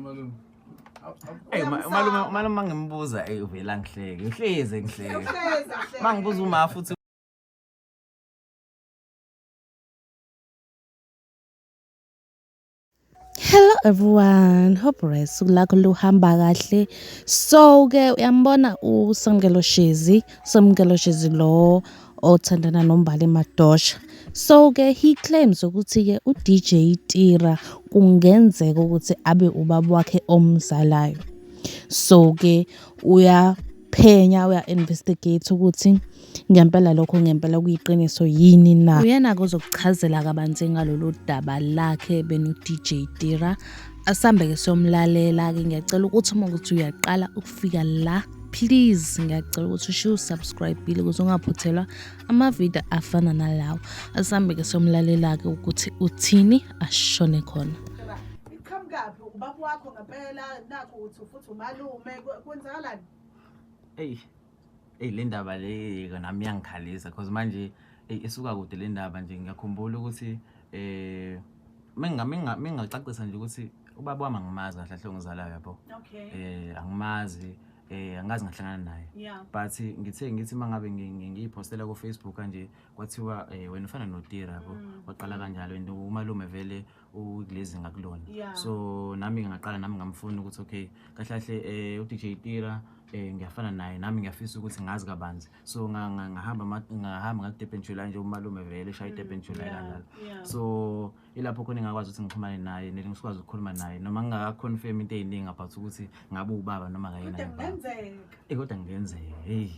Malume. Ey uma- umalume umalume mangimbuza ey uvela ngihleke. Uhleze ngihleke. Hleza, hleza. Mangibuza uma futhi Hello everyone, hope right usuku lakho luhamba kahle. So ke uyambona uSamkelo Shezi, Samkelo Shezi lo othandana nombali madosha so ke he claims ukuthi ke udj tira kungenzeka ukuthi abe ubaba wakhe omzalayo so ke uya uyaphenya uya-investigate ukuthi ngempela lokho ngempela kuyiqiniso yini na uyena-ke uzokuchazela kabanzi ngalolu daba lakhe beno-dj tira asambe-ke siyomlalela-ke ngiyacela ukuthi uma ukuthi uyaqala ukufika la please ngiyacela ukuthi ushiye usubscribile ukuze ungaphuthelwa amavidiyo afana nalawo asambe-ke siyomlalela-ke ukuthi uthini ashone khona iqhamukaphi ubaba wakho ngempela nakho uthi futhi umalume kwenzakalani eyi eyi le ndaba le nami iyangikhalisa cause manje eyi isuka kude le ndaba nje ngiyakhumbula ukuthi um mengingacacisa nje ukuthi ubaba wami angimazi kahle ahle ongizalayo yabo um angimazi eh angazi ngahlangana naye but ngithe ngithi mangabe ngiyipostela ku Facebook kanje kwathiwa eh, wena ufana no Tira yabo mm. waqala kanjalo and umalume vele ukulezi ngakulona yeah. so nami ngingaqala nami ngamfuna ukuthi okay kahle kahle eh uDJ Tira eh ngiyafana naye nami ngiyafisa ukuthi ngazi kabanzi so ngahamba ngahamba ngakuDurban July nje umalume vele shaya mm, iDurban July la so ilapho khona ngakwazi ukuthi ngixhumane naye nele ngisikwazi ukukhuluma naye noma ngingaka confirm into eziningi about ukuthi ngabe ubaba noma kayena kodwa ngenzeka eh kodwa ngenzeka hey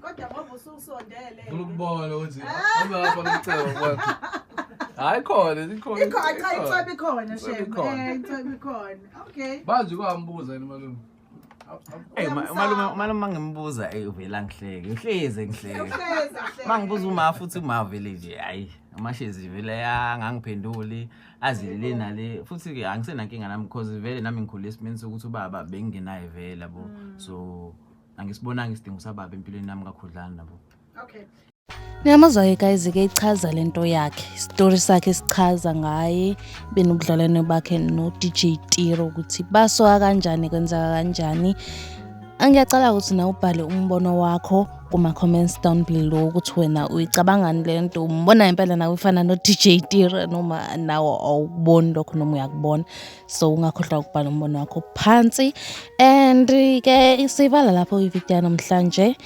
kodwa ngoba ususondele funa ukubona ukuthi hamba lapha kucebo kwakho hayi khona ikhona ikhona cha icebo ikhona shem eh icebo ikhona okay bazi kwambuza yini malume Hey malume malume mangimbuza hey uvela ngihleke uhleze ngihleke mangibuza uma futhi uma vele nje hayi amashezi vele angangiphenduli azilele nale futhi ke angisenankinga nami because vele nami ngikhule esimeni sokuthi ubaba bengingenaye vele yabo mm. so angisibonanga isidingo sababa empilweni yami kakhudlana nabo okay Niyamazwa-ke guys ke ichaza lento yakhe isitori sakhe sichaza ngaye benobudlelwane bakhe no-DJ Tiro ukuthi basoka kanjani kwenzeka kanjani angiyacala ukuthi na ubhale umbono wakho kuma-comments down below ukuthi wena uyicabangani le nto umbona impela nawe ifana no-DJ Tiro noma nawe awuboni lokho noma uyakubona so ungakhohlwa ukubhala umbono wakho phansi and ke siyivala lapho ivideo yanamhlanje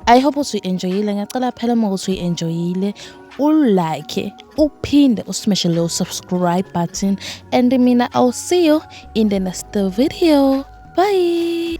i hope ukuthi uyi-enjoyile ngiyacela phela uma ukuthi uyi-enjoyile ulike uphinde usimeshe leyo subscribe button and mina i'll see you in the next video bye